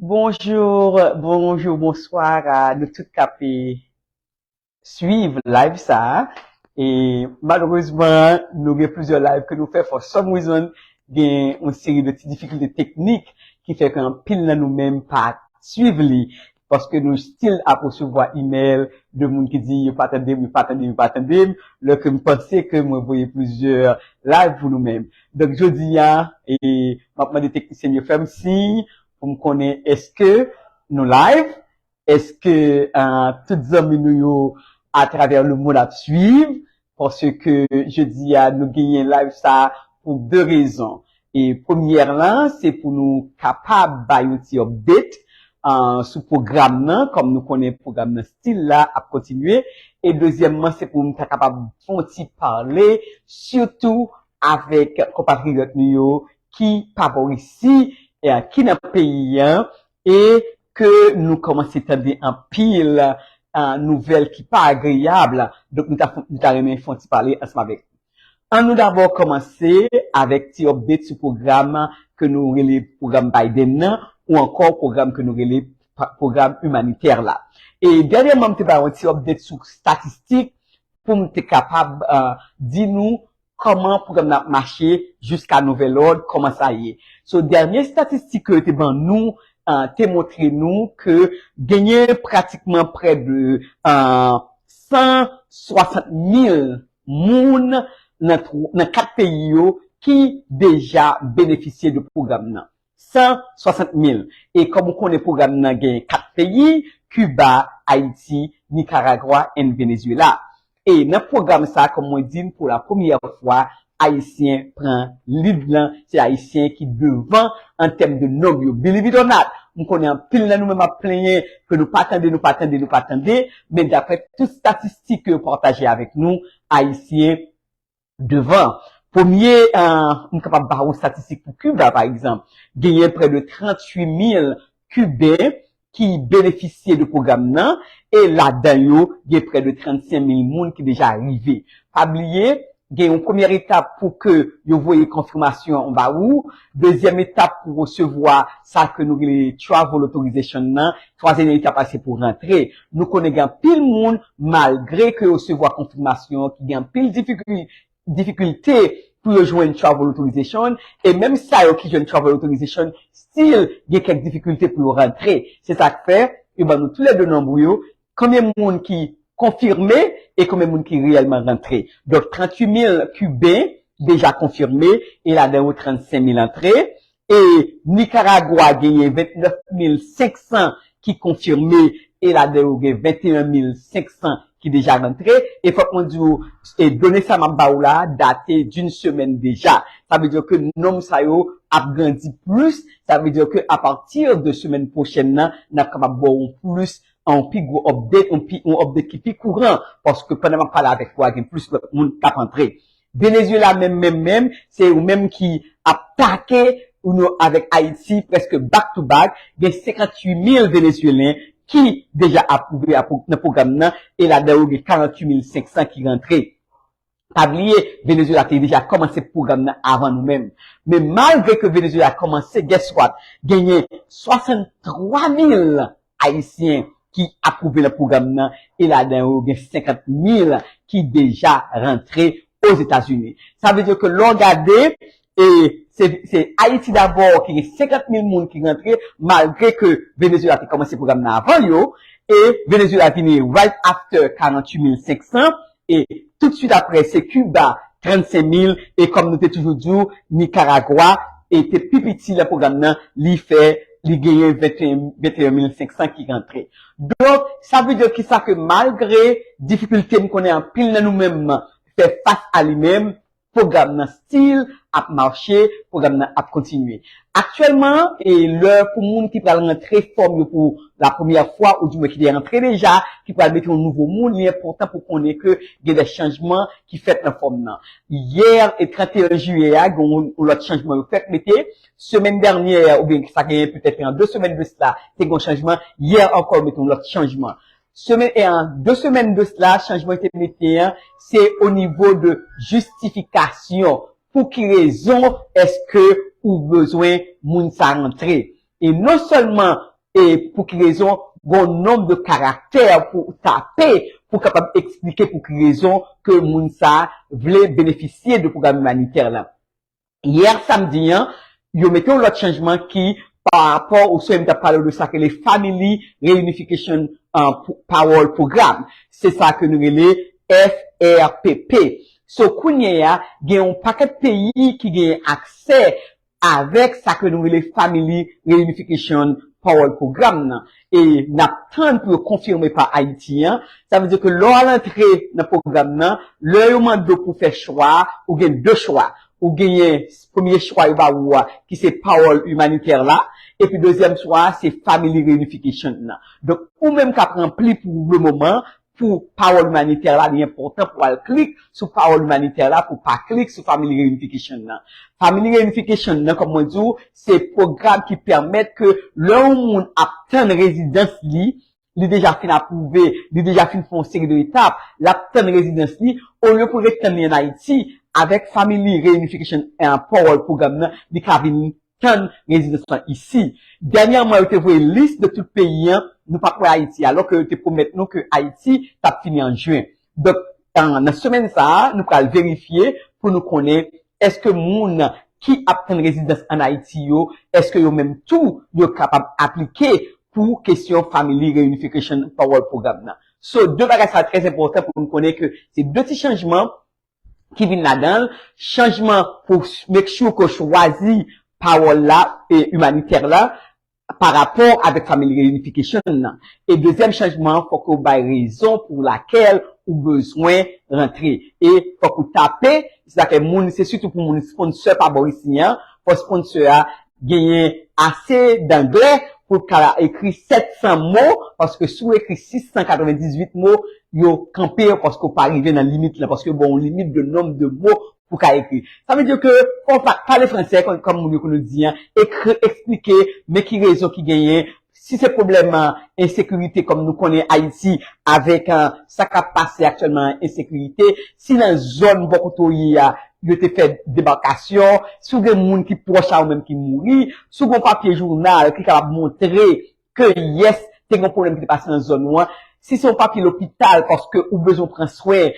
Bonjour, bonjour, bonsoir a nou tout kap suiv live sa a. E malerezman nou gen plizyè live ke nou fè for some reason gen yon seri de ti difikilte teknik ki fè ke anpil nan nou menm pa suiv li. paske nou still ap resevwa email de moun ki di yo pa tande m, yo pa tande m, yo pa tande m, lò ke m panse ke mwen voye plizyè live pou nou menm. Donk jodi a, m ap mande teknisyen m yo fè m siy pou m konnen èske nou live, èske tout zanmi nou yo atravè lemond ap swiv, Paske jodi a nou genyen live sa pou 2 rezon. E premyè lan se pou nou kapab bay yon ti update sou pwogram nan kòm nou konnen pwogram nan stil la ap kontinye. E dezyèmman se pou m ta kapab fè yon ti pale sitou avèk konpatriyòt nou yo ki pa bò isi, ki nan peyi an E ke nou kòmanse tande anpil nouvèl ki pa agreyab, donk nou ta renmen fè yon ti pale ansanm avèk nou. An nou dabò kòmanse avèk ti update sou pwogram ke nou rele pwogram Biden nan ou ankò pwogram ke nou rele pwogram imanitè la. E dènyèman m te bay yon ti update sou statistik pou m te kapab di nou Kòman pwogram nan ap mache jiska nouvèl òd, kòman sa ye? So dènye statistik ke yo te ban nou te montre nou ke genyen pratikman prè de 160 mil moun nan 4 peyi yo ki deja benefisye de pwogram nan. 160 mil. E kòm ou konnen pwogram nan gen 4 peyi, Kiba, Ayiti, Nikaragwa and Venezuela. E nan pwogram sa kòm mwen di n pou la premyè fwa Ayisyen pran lead lan, se Ayisyen ki devan an tèm de nonb yo. Believe it or not, m konnen anpil nan nou menm ap plenyen ke nou pa tande, nou pa tande, nou pa tande, men daprè tout statistik ke yo pataje avèk nou, Ayisyen, devan. Premye, m kapab ba ou statistik pou Kiba, pa egzanp. Genyen prè de 38 mil Kiben ki benefisye de pwogram nan, e ladan yo, gen prè de 35 mil moun ki deja rive. Pa bliye, gen yon premyè etap pou ke yo voye konfimasyon an ba ou, dezyèm etap pou resevwa sa ke nou rele Travel Authorization nan, twazyèm etap la se pou rantre. Nou konnen gen anpil moun malgre ke yo resevwa konfimasyon ki gen anpil difikilte pou yo jwenn travel authorization e menm sa yo ki jwenn travel authorization still gen kèk difikilte pou yo rantre. Se sak fè yo ban nou tou lè 2 nonb yo konbyen moun ki konfime e konbyen moun ki reyèlman rantre. Donk 38 mil kiben deja konfime e ladan yo 35 mil antre E Nikaragwa genyen 29 mil 500 ki konfime e ladan yo gen 21 mil 500 ki deja rantre. E fòk mwen di ou done sa map ba ou la date d'une semaine deja. Sa vle di ke nonb sa yo ap grandi plis. Sa vle di ke a partir de semaine prochaine nan nap kapab ba ou yon plis yon pi gwo update yon update ki pi kouran paske pandan map pale avèk ou a gen plis lòt moun kap antre. Venezuela menm menm menm se yo menm ki ap take uno avek Haiti preske back to back gen 58 mil Venezuelen ki deja aprouve nan program nan e ladan yo gen 48 mil 500 ki rantre pa bliye Venezuela te deja komanse program nan avan nou menm men malgre ke Venezuela komanse guess what genyen 63 mil Ayisyen ki apwouve nan pwogram nan e ladan yo gen 50 mil ki deja rantre Ozetazini. Sa vle di ke lè w gade e se se Ayiti dabò ki gen 50 mil moun ki rantre malgre ke Venezyela te kòmanse pwogram nan avan yo e Venezyela vini right after 48 mil 500 E tout swit apre se Kiba, 35 mil, e kòm nou te toujou di w, Nikaragwa e te pi piti lan pwogram nan, li fè, li genyen 21 mil 500 ki rantre. Donk, sa vle di ki sa ke malgre difikilte m konnen anpil nan nou menm fè fas a li menm, Pwogram nan still ap mache, pwogram nan ap kontinye. Aktyèlman, e lè pou moun ki pral rantre fòm yo pou la premyè fwa ou di mwen ki te antre deja, ki pral mete yon nouvo moun, li enpòtan pou konnen ke gen de chanjman ki fèt nan fòm nan. Yè e 31 jiyè a, gen yon lòt chanjman yo fèk mete. Semèn dènyè oubyen sa gen petèt 2 semèn de sla, te gen yon chanjman. Yè ankò yo mete yon lòt chanjman. Semen en 2 semèn de cela chanjman yo te mete an se o nivo de jistifikasyon pou ki rezon eske ou bezwen moun sa rantre e non sèlman e pou ki rezon gon nonb de karaktè pou ou tape pou kapab eksplike pou ki rezon ke moun sa vle benefisye de pwogram imanitè lan Yè samdi an, yo mete yon lòt chanjman ki pa rapò ou sèm tap pale ou de sak rele Family Reunification Parole Program. Se sa ke nou rele FRPP. So kounye a, gen yon pakèt peyi ki genyen aksè avèk sa ke nou rele Family Reunification Parole Program nan. e nap tann pou yo konfime pa Ayiti an, sa vle di ke lè w al antre nan pwogram nan, lè yo mande w pou w fè chwa a, ou gen 2 chwa, ou genyen premye chwa yo ba ou a ki se Parole Humanitaire la, epi dezyèm chwa a se Family Reunification nan. Donk ou menm kap ranpli pou le moman pou pawòl imanitè la, li enpòtan pou al klik sou pawòl imanitè la pou pa klik sou Family Reunification nan. Family Reunification nan, kòm mwen di w, se pwogram ki pèmèt ke lè yon moun ap tann rezidans li, li deja fin apwouve, li deja fin fè yon seri de etap, l ap tann rezidans li, olye pou l ret tann li an Ayiti, avèk Family Reunification an, pawòl pwogram nan, li ka vin tann rezidans lan isi. Dènyèman yo te voye lis de tout peyi an nou pa p wè Ayiti alò ke yo te pwomèt nou ke Ayiti t ap fini an Jwen. Donk nan semèn sa a nou pral verifye pou nou konnen èske moun ki ap tann rezidans an Ayiti yo èske yo menm tou yo kapab aplike pou kesyon Family Reunification Parole Program nan. So 2 bagay sa a trèzenpòtan pou nou konnen ke se 2 ti chanjman ki vin ladan l, chanjman pou make sure ke w chwazi pawòl la, humanitaire la, pa rapò avèk family reunification nan. E dezyèm chanjman an fòk ou bay rezon pou lakèl ou bezwen rantre. E fòk ou tape, se sa fè moun, se sitou pou moun sponsor pa bò isi an, fò sponsor a Genyen ase danglè pou l ka ekri 700 mo, paske si w ekri 698 mo, yo kanpe yo paske w pa rive nan limit lan, paske yo ba w yon limit de nombre de mots pou w ka ekri. Sa vle di ke fò w pale fransè, kòm moun yo konn di an, ekri, eksplike, men ki rezon ki genyen Si se pwoblèm ensekirite kòm nou konnen Ayiti avèk sa k ap pase aktyèlman an ensekirite, si nan zòn bò kote w ye a yo te fè debakasyon, si w gen moun ki pwòch a ou menm ki mouri, si w gen yon papye jounal ki kapab montre ke yès te gen yon pwoblèm ki te pase nan zòn ou an, Si se yon papye lopital paske ou bezwen w pran swen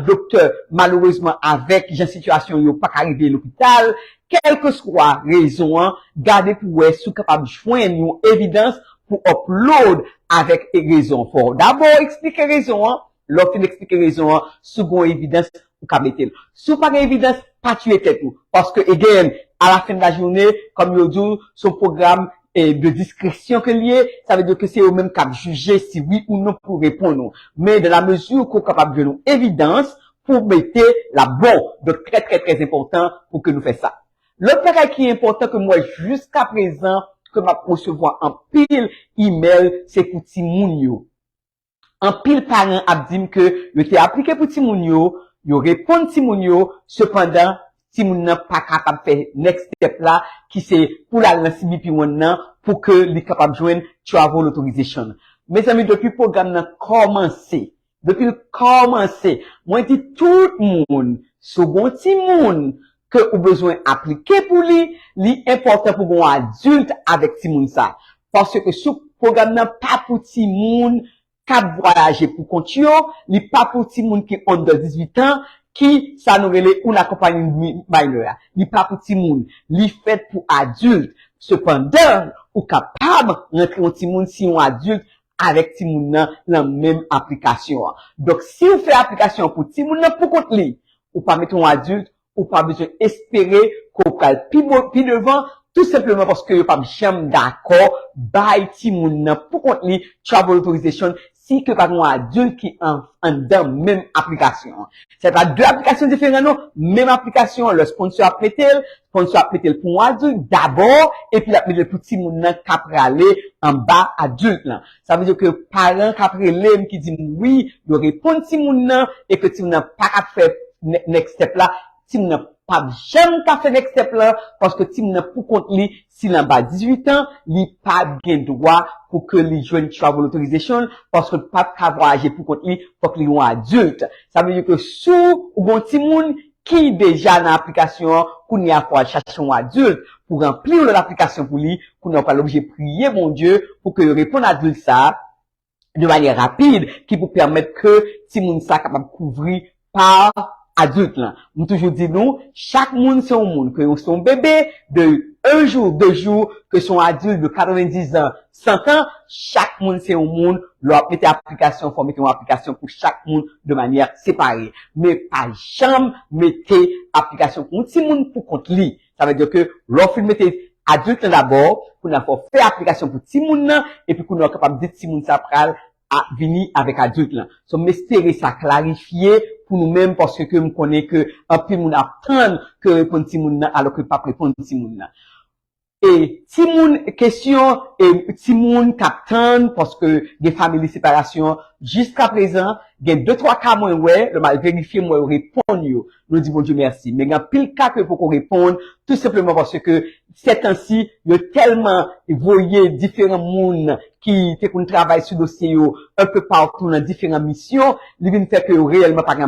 doktè malerezman avèk jan sitiyasyon yo paka rive lopital, kèlkeswa rezon an gade pou wè si w kapab jwenn yon evidans pou upload avèk rezon fò w dabò eksplike rezon an Lè w fin eksplike rezon an, si w gen yon evidans, ou ka mete l. Si w pa gen evidans, pa tiye tèt ou. Paske again, a la fen de la joune, kòm yo di w, se yon pwogram de diskresyon ke l ye, sa vle di ke se yo menm k ap jije si wi ou non pou yo reponn ou. Men dan la mezi ke w kapab jwenn yon evidans pou w mete, l ap bon. Donk trè trè trè enpòtan pou ke nou fè sa. Lòt bagay ki enpòtan ke m wè jiskaprezan ke m ap resevwa anpil email se pou timoun yo. Anpil paran ap di m ke yo te aplike pou timoun yo, yo reponn timoun yo, sepandan timoun nan pa kapab fè next step la ki se pou l al nan CBP one nan pou ke li kapab jwenn travel authorization. Mezanmi depi pwogram nan kòmanse, depi l kòmanse, mwen di tout moun, si w gen yon timoun ke ou bezwen aplike pou li, li enpòtan pou gen yon adilt avèk timoun sa. Paske sou pwogram nan pa pou timoun kap vwayaje pou kont yo, li pa pou timoun ki under 18 ans, ki sa nou rele unaccompanied minor a. Li pa pou timoun. Li fèt pou adilt. Sepandan, ou kapab rantre yon timoun si yon adilt avèk timoun nan lan menm aplikasyon an. Donk, si ou fè aplikasyon an pou timoun nan pou kont li, Ou pa mete yon adilt, ou pa bezwen espere ke w pral pi bon, pi devan, tou senpleman paske yo pap janm dakò bay timoun nan pou kont li travel authorization si ke pa gen yon adilt ki anndan menm aplikasyon an. Sa e pa 2 aplikasyon diferan non, menm aplikasyon an lè sponsor ap mete l, sponsor ap mete l pou yon adilt dabò epi l ap mete l pou timoun nan ka prale anba adilt lan. Sa vle di ke paran k ap rele m ki di m wi, yo reponn timoun nan e ke timoun nan pa ka fè next step la, timoun nan p ap janm ka fè next step lan paske timoun nan pou kont li, si l anba 18 an, li pa gen dwa pou ke li jwenn travel authorization paske l p ap ka vwayaje pou kont li, fòk li yon adult. Sa vle di ke si w gen yon timoun ki deja nan aplikasyon an kounye a fò al chache yon adilt pou ranpli yon lòt aplikasyon pou li, kounye a ou pral oblije priye Bondye pou ke yo reponn adilt sa a de manyè rapid ki pou pèmèt ke timoun sa kapab kouvri pa adilt lan. M toujou di nou, chak moun se yon moun, ke ou se yon bebe de 1 jou, 2 jou, ke se yon adilt de 90 zan, Santan, chak moun se yon moun, lè w ap mete aplikasyon ou fò w mete yon aplikasyon pou chak moun de manyè separe. Men pa janm mete aplikasyon pou yon timoun pou kont li. Sa vle di ke lè w fin mete adilt lan dabò, kounye a fò w fè aplikasyon pou timoun lan, epi kounye a w kapab di timoun sa pral vini avèk adilt lan. So m espere sa klarifye pou nou menm paske ke m konnen ke anpil moun ap tann ke reponn timoun lan alò ke pap reponn timoun lan. E timoun kesyon e timoun k ap tann paske gen family separasyon jiska prezan gen de twa ka mwen wè lè m al verifye m wè yo reponn yo nou di Bondye mèsi men gen anpil ka ke yo poko reponn tou senpleman paske sètansi yo tèlman voye diferan moun ki te konn travay sou dosye yo un peu partout nan diferan misyon li vin fè ke yo reyèlman pa gen